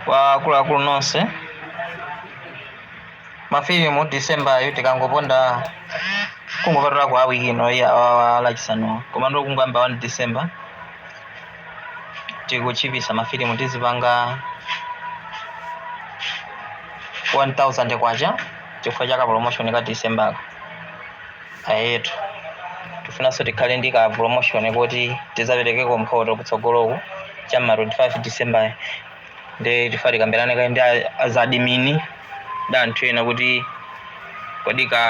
Kwa akuluakulu nonse, ma film December yo tikangoponda kungopatulako wiki ino iyi awawa a Lachisanu komano kungoyamba 1 December tikutchipisa ma film tizipanga 1000 kwacha chifukwa cha ka promotion ka December ka. Eyetu. Tikufunanso tikhale ndi ka promotion koti tidzaperekeko mphoto kutsogoloku cha ma 25 December nde tifuna tikambirane kaye ndi a- azadimini ndi anthu ena kuti kodi ka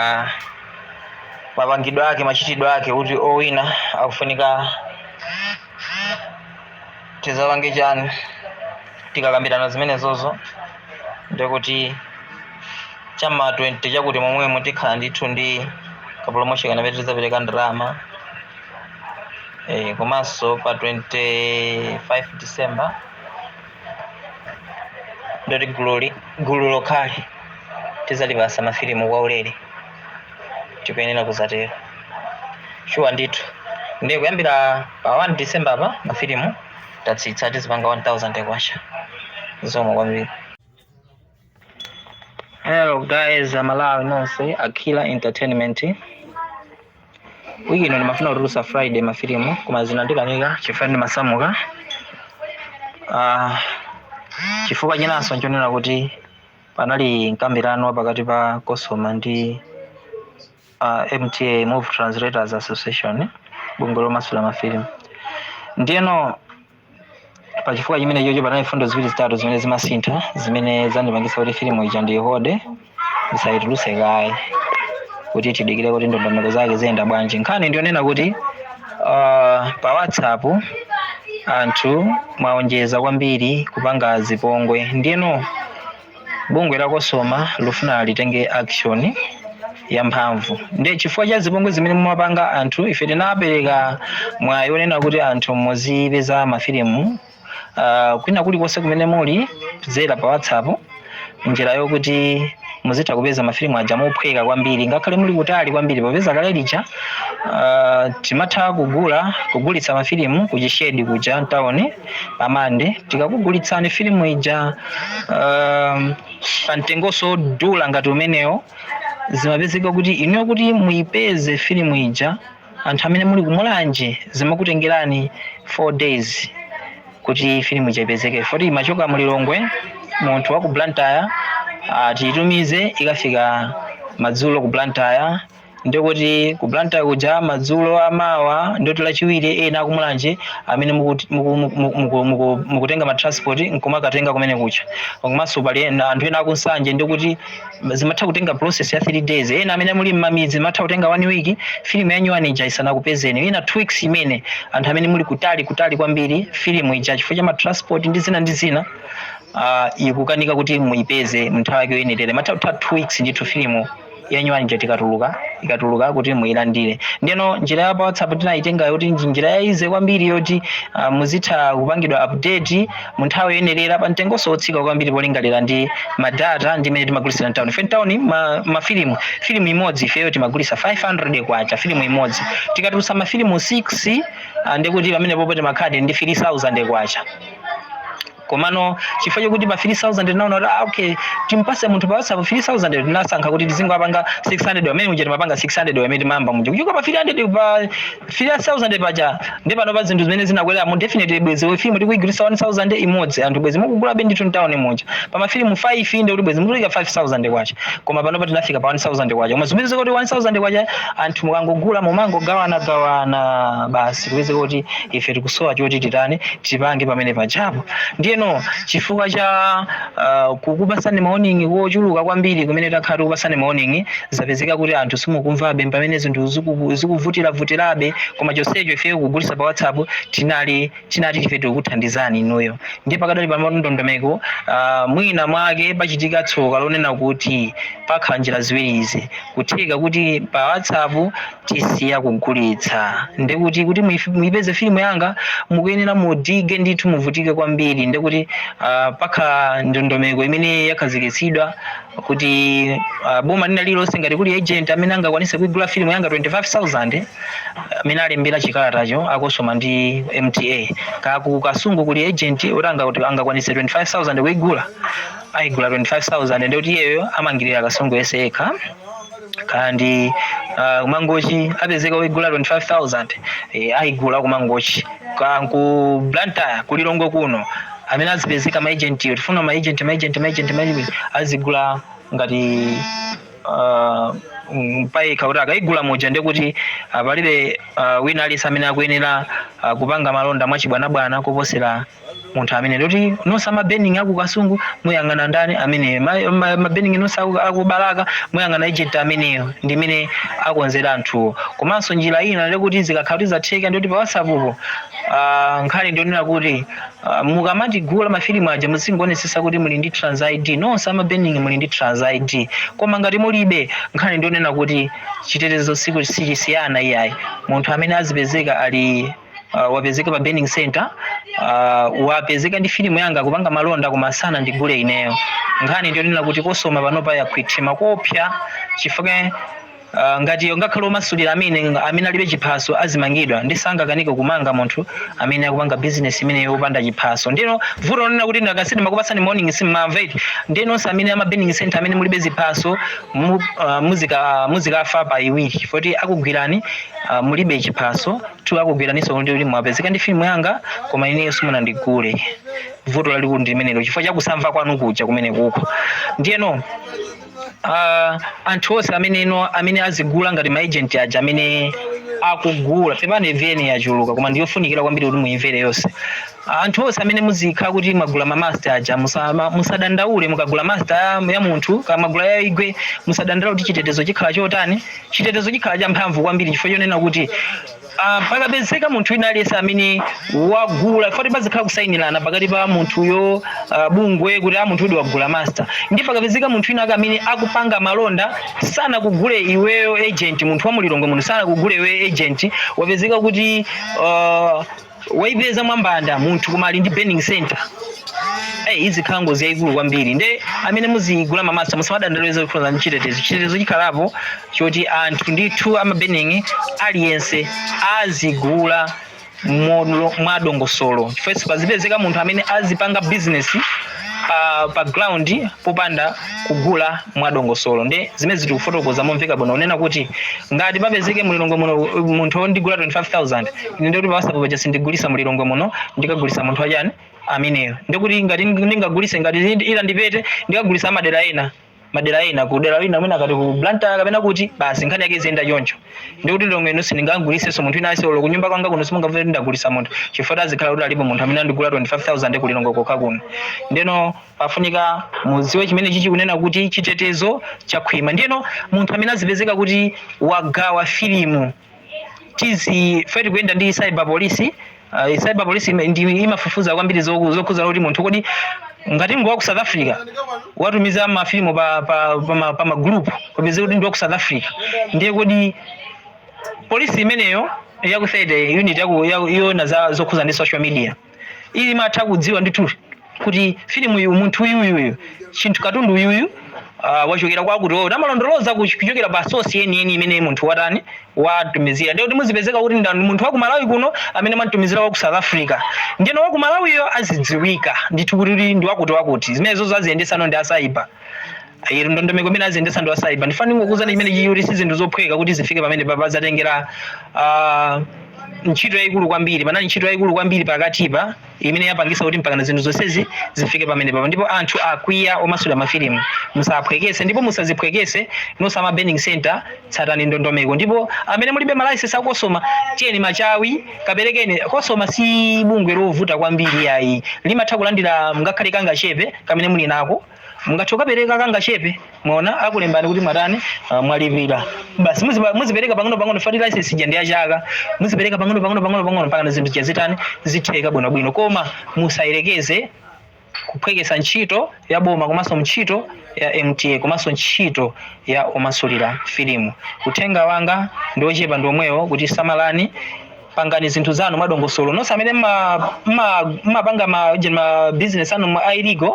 mapangidwe ake machitidwe ake kuti owina akufunika tizapange chani tikakambirana zimenezozo ndikuti chama 20 chakuti momwemo tikhala ndithu ndi ka promotion kenakake tizapereka ndalama eh, komanso pa 25 december ndiyoti gululi gulu lokhali tizalipasa mafilimu kwa ulere tikuyenera kuzatero shuwa ndithu ndiye kuyambira pa 1 december pa mafilimu tatsitsa tizipanga 1000 kwacha zikomo kwambiri hello guys amalawi nonse akila entertainment wiki ino ndimafuna kutulusa friday mafilimu koma zinandikanika chifukwa ndimasamuka Ah, chifukwa chinanso nchonena kuti Panali mkambirano wapakati pa Cosoma ndi a MTA, Movie Translators Association, bungwe lomasula mafilimu. Ndiyeno pa chifukwa chimenechocho panali mfundo ziwiri zitatu zimene zimasintha zimene zandipangitsa kuti filimu ija ndiyihode ndisayitulutse kaye kuti tidikire kuti ndondomeko zake ziyenda bwanji. Nkhani ndiyonena kuti Uh, pa whatsapp anthu mwaonjeza kwambiri kupanga zipongwe ndiyeno bungwe la kosoma likufuna litenge action yamphamvu ndiye chifukwa cha zipongwe zimene mumapanga anthu ife tinapereka mwayi onena kuti anthu muzipeza mafilimu uh, kwina kulikonse kumene muli kudzera pa whatsapp njira yokuti muzitha kupeza mafilimu aja mophweka kwambiri ngakhale muli kutali kwambiri popeza kale lija uh, timatha kugula kugulitsa mafilimu kuchishedi kuja town pamande tikakugulitsani filimu ija um, pa mtengo osadula ngati umenewo zimapezeka kuti inuyo kuti muipeze filimu ija anthu amene muli kumulanje zimakutengerani 4 days kuti filimu ija ipezeke poti imachoka mulilongwe munthu wa ku blantyre atitumize ikafika madzulo ku blantyre ndikuti ku blantyre kuja madzulo amawa ndi oti lachiwiri ena akumulanje amene mukuti- muku- muku- muku- muku- mukutenga matransport nkumakatenga kumene kucha komanso pali ena- anthu ena akunsanje ndikuti zimatha kutenga process ya 3 days ena amene muli mmamidzi mmatha kutenga 1 week filimu ya nyuwani ija isanakupezeni ina 2 weeks imene anthu amene muli kutali kutali kwambiri filimu ija chifukwa cha matransport ndi zina ndi zina uh, ikukanika kuti muipeze mnthawi yake yoyenerera mmatha kutha 2 weeks ndithu filimu ya nyuwani ija tikatuluka ikatuluka kuti muilandire ndiyeno njira ya pa whatsapp tinayitenga yoti ndi njira ya easy kwambiri yoti uh, muzitha kupangidwa update mu nthawi yoyenerera pa mtengonso wotsika kwambiri polingalira ndi madata ndi mmene timagulitsira mtawuni ife mtawuni ma, mafilimu filimu imodzi ifeyo timagulitsa 500 kwacha filimu imodzi tikatulutsa mafilimu 6 ah, ndikuti pamenepopo timakhala ndi ndi 3000 kwacha komano chifukwa chokuti pa 3000 tinaona kuti ah, okay timpase munthu pa whatsapp 3000 tinasankha kuti tizingowapanga 600 mmene muja timapanga 600 mmene timayamba muja kuchoka pa 300 pa 3000 paja ndi panopa zinthu mmene zinakweramu definitely bwezi ife filimu tikuigulisa 1000 imodzi anthu bwezi mukugula benditu town muja pa mafilimu 5 ndi kuti bwezi mukulipa 5000 kwacha koma panopa tinafika pa 1000 kwacha koma zimene zikuti 1000 kwacha anthu mukangogula mumangogawana gawana basi kupeza kuti ife tikusowa choti titani tipange pamene pajapo ndiyeno chifukwa cha Uh, kukupasani mawarning ochuluka kwambiri kumene takhala tikukupasani mawarning zapezeka kuti anthu simukumvabe pamene zinthu ziku- zikuvutiravutirabe koma chonsecho ife kugulisa pa whatsapp tinali tinati ife tikuthandizani inuyo ndiye pakadali pano ndondomeko uh, mwina mwake pachitika tsoka lonena kuti pakhala njira ziwiri zikutheka kuti pa whatsapp tisiya kugulitsa ndekuti kuti muif- muipeze filimu yanga mukuyenera mudikire ndithu muvutike kwambiri ndekuti uh, pakhala ndondomeko imene yakhazikitsidwa kuti uh, boma lina lililonse ngati kuli agent amene angakwanise kuigula filimu yanga 25000 amene alembera chikalatacho akosoma ndi mta kaya ku kasungu kuli agent oti anga- angakwanise 25000 kuigula aigula 25000 ndekuti iyeyo ayimirira kasungu yese yekha and uh, kumangochi apezeka oigula 25000 eh, aigula kumangochi ku blantyre ku lilongwe kuno amene azipezeka maagentiwo tifuna maagenti maagenti maagenti maagenti azigula ngati uh, mm, paika kuti akaigula muja ndekuti uh, palibe uh, wina aliyense amene akuyenera uh, kupanga malonda mwachibwanabwana koposera munthu amene ndoti nonse a ma burning aku Kasungu muyang'ana ndani amene ma- ma- ma burning nonse aku- aku Balaka muyang'ana ejenti ameneyo ndimene akonzera anthuwo komanso njira ina ndekuti zikakhala kuti zatheka ndikuti pa whatsapp po ah, nkhani ndi yonena kuti ah, mukamatigula mafilimu aja muzingoonetsetsa kuti muli ndi trans id nonse a ma burning muli ndi trans id koma ngati mulibe nkhani ndi yonena kuti chitetezo siku sichisiyana iyayi munthu amene azipezeka ali uh, wapezeka pa burning center uh, wapezeka ndi filimu yanga kupanga malonda koma sanandigule ineyo nkhani ndiyonena kuti kosoma panopa yakhwima koopsa chifukwa Uh, ngati ngakhale omasulira amene amene alibe chiphaso azimangidwa ndisangakanike kumanga munthu amene akupanga business imeneyo opanda chiphaso ndiyeno vuto lonena kuti ndakasidi makupatsani warning simumamva eti ndiye nonse amene ama burning center amene mulibe ziphaso mu, uh, muzika muzikafa pa iwiri foti akugwirani uh, mulibe chiphaso two akugwiraninso kuti kuti mwapezeka ndi filimu yanga koma ineyo simunandigule vuto lalikulu ndi limenelo chifukwa chakusamva kwanu kuja kumene kuko ndiyeno uh, anthu onse amene ino amene azigula ngati maagent aja amene akugula pepani vn yachuluka koma ndiyofunikira kwambiri kuti muimvere yonse Anthu onse amene muzikhala kuti mwagula ma master aja musama, musadandaule mukagula master ya, ya munthu kaya mwagula ya igwe musadandaule kuti chitetezo chikhala chotani chitetezo chikhala cha mphamvu kwambiri chifukwa chonena kuti ah, pakapezeka munthu wina aliyense amene wagula foti pazikhala kusayinirana pakati pa munthuyo ah, bungwe kuti a munthu uyu wagula master nde pakapezeka munthu wina ake amene akupanga malonda sanakugule iweyo agent munthu wa mu Lilongwe munthu sanakugule iweyo agent wapezeka kuti ah, waipeza mwambanda munthu koma ali ndi burning center Hey, izi chilango chiyachikulu kwambiri nde amene muzigula ma master musamadandaule zokhudza ndi chitetezo chitetezo chikhalapo choti anthu ndithu a ma burning aliyense azigula modo- mwadongosolo chifukwa pazipezeka munthu amene azipanga bizinesi pa, pa ground popanda kugula mwadongosolo ndi zimene tikufotokoza momveka bwino kunena kuti ngati papezeke mulilongwe muno uh, munthu wondigula 25000 ine ndikuti pa whatsapp po paja sindigulisa mulilongwe muno ndikagulisa munthu wachani ameneyo ndikuti ngati ndingagulise ngati ndi- ila ndipete ndikagulisa amadera ena madera ena ku dera lina amene akati ku Blantyre kapena kuti basi nkhani yake iziyenda choncho ndikuti lilongwe ino sindingagulisenso munthu ina aise olo kunyumba kwanga kuno simungavere ndagulisa munthu chifukwa azikhala kuti alipo munthu amene andigula 25000 kulilongwe kokha kuno ndeno Pafunika mudziwe chimene ichi ndikunena kuti chitetezo chakhwima. Ndiyeno munthu amene azipezeka kuti wagawa filimu tizi ife tikuyenda ndi cyber police uh, cyber police ime- ndi imafufuza kwambiri zoku- zokhudzana kuti munthu kodi ngati ngwa ku south africa watumiza mafilimu pa, pa, pa, ma- pa magulupu kupeza kuti ndi wa ku south africa ndiye kodi polisi imeneyo yaku 30 unit yaku- yaku- yona za zokhudzana ndi social media imatha kudziwa ndithu kuti filimu uyu munthu uyu uyu uyu chinthu katundu uyu uyu ah, wachokera kwakuti oyo amalondoloza kuch- kuchokera pa sosi yeniyeni imene munthu watani watumizira ndiye kuti muzapezeka kuti ndani munthu wa ku malawi kuno amene wamutumizira wa ku south africa ndiyeno wa ku malawiyo azadziwika ndithu kuti ndi wakuti wakuti zimenezozo aziyendesano ndi asaiba iri ndondomeko imene aziyendesa ndi asaiba ndifuna ndingokuuzani chimenechi kuti si zinthu zophweka kuti zifike pamenepapa zatengera ah, ntchito yayikulu kwambiri panali ntchito yayikulu kwambiri pakatipa imene yapangisa kuti mpakana zinthu zonsezi zifike pamenepapa ndipo anthu akwiya omasula mafilimu musaphwekese ndipo musaziphwekese nonse a ma burning center tsatani ndondomeko ndipo amene mulibe malaisensi a kosoma tiyeni machawi kaperekeni kosoma si bungwe lovuta kwambiri ayi limatha kulandira ngakhale kangachepe kamene muli nako mungathe kukapereka kangachepe muona akulembani kuti mwatani ah, mwalipira basi muziba- muzipereka pang'ono pang'ono poti license ija ndi ya chaka muzipereka pang'ono pang'ono pang'ono pang'ono mpaka zinthu zija zitani zitheka bwinobwino koma musayerekeze kuphwekesa ntchito ya boma komanso ntchito ya mta komanso ntchito ya omasulira filimu uthenga wanga ndi ochepa ndi omwewo kuti samalani pangani zinthu zanu mwadongosolo nonse amene mma- mma- mmapanga ma je- ma business anu ma illegal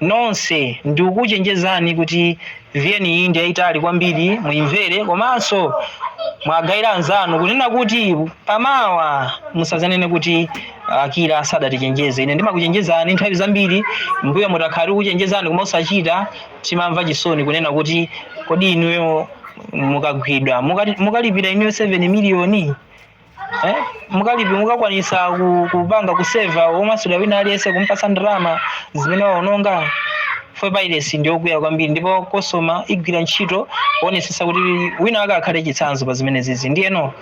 nonse ndikukuchenjezani kuti vn iyi ndi yayitali kwambiri muyimvere komanso muwagayire anzanu kunena kuti pamawa musazanene kuti akila sadatichenjeze ine ndimakuchenjezani nthawi zambiri mbuyomu takhala tikuchenjezani koma osachita timamva chisoni kunena kuti kodi inuyo mukagwidwa mukati- mukalipira inuyo 7 miliyoni eh? mukalipi mukakwanisa ku- kupanga kuseva omasula wina aliyense kumpasa ndalama zimene mwaononga fwe pairesi ndiyokwiya kwambiri ndipo kosoma igwira ntchito kuonesesa kuti wina wake akhale chitsanzo pa zimenezizi ndiyeno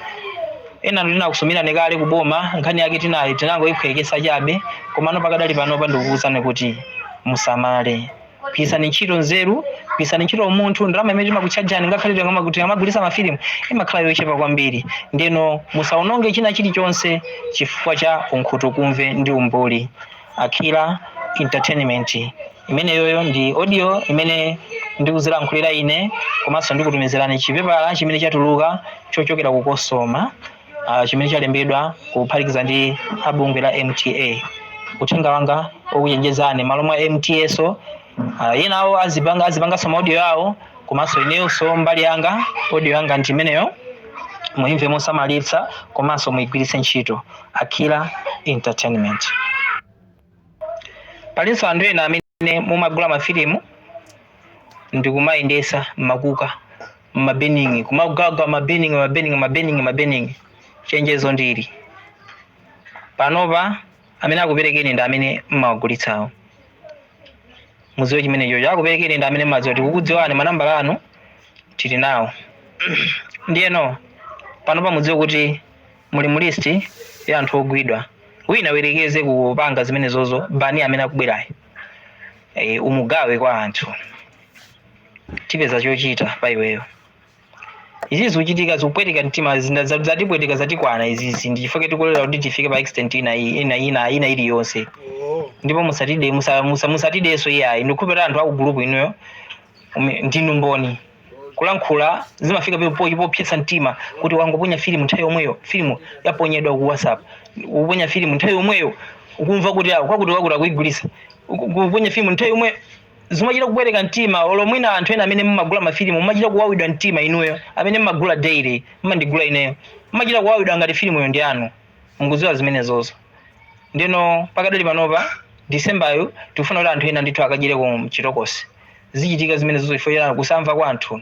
ena tinakusumirani kale kuboma nkhani yake tinayi tinangoyiphwekesa chabe komano pakadali panopa ndikukuwuzani kuti musamale gwiritsani ntchito nzeru gwiritsani ntchito umunthu ndalama imene timakutchajani ngakhale tikama- tikamagulitsa mafilimu imakhala yochepa kwambiri ndeno musaononge china chilichonse chifukwa cha unkhutukumve ndi umbuli akila entertainment imeneyoyo ndi audio imene ndikuzilankhulira ine komanso ndikutumizirani chipepala chimene chatuluka chochokera ku kosoma uh, chimene chalembedwa kuphatikiza ndi a bungwe la mta uthenga wanga okuchenjezani malo mwa mta so uh, enawo azipanga azipangaso maaudio yawo komanso ineyonso mbali yanga audio yanga ndi imeneyo muimve mosamalitsa komanso muigwiritse ntchito akila entertainment palinso anthu ena amene ne mumagula mafilimu ndikumayendetsa mmakuka mmabeningi kumagawa mabeningi mabeningi mabeningi mabeningi chenjezo ndili panopa amene akuperekeni ndi amene mmawagulitsawo mudziwe chimene chocho akuperekeni ndi amene mmadziwa tikukudziwani manambala anu tili nawo ndiyeno panopa mudziwe kuti muli mu list ya anthu ogwidwa wina ayerekeze kupanga zimenezozo bani amene akubwerayo e, umugawe kwa anthu tipeza chochita pa iweyo izi zikuchitika zikupweteka mtima zina- za- zatipweteka zatikwana izizi ndi chifukwa tikulolera kuti tifike pa extent ina iyi- ina ina ina iliyonse ndipo musatide musa- musa- musatidenso iyayi ndikhulupira anthu akugulupu inuyo ume- ndinu mboni kulankhula zimafika pe- po- popsetsa mtima kuti wangoponya filimu nthawi yomweyo filimu yaponyedwa ku whatsapp ukuponya filimu nthawi yomweyo ukumva kuti awo kwakuti kwakuti akuyigulitsa Uku- kuponya filimu nthawi yomweyo zimachita kupweteka mtima olo mwina anthu ena amene mumagula mafilimu mumachita kuwawidwa mtima inuyo amene mumagula daily mumandigula ineyo mumachita kuwawidwa ngati filimuyo ndi anu mukudziwa zimenezozo ndiyeno pakadali panopa disembayo tikufuna kuti anthu ena ndithu akadyereko mchitokosi zichitika zimenezozo chifukwa cha kusamva kwa anthu.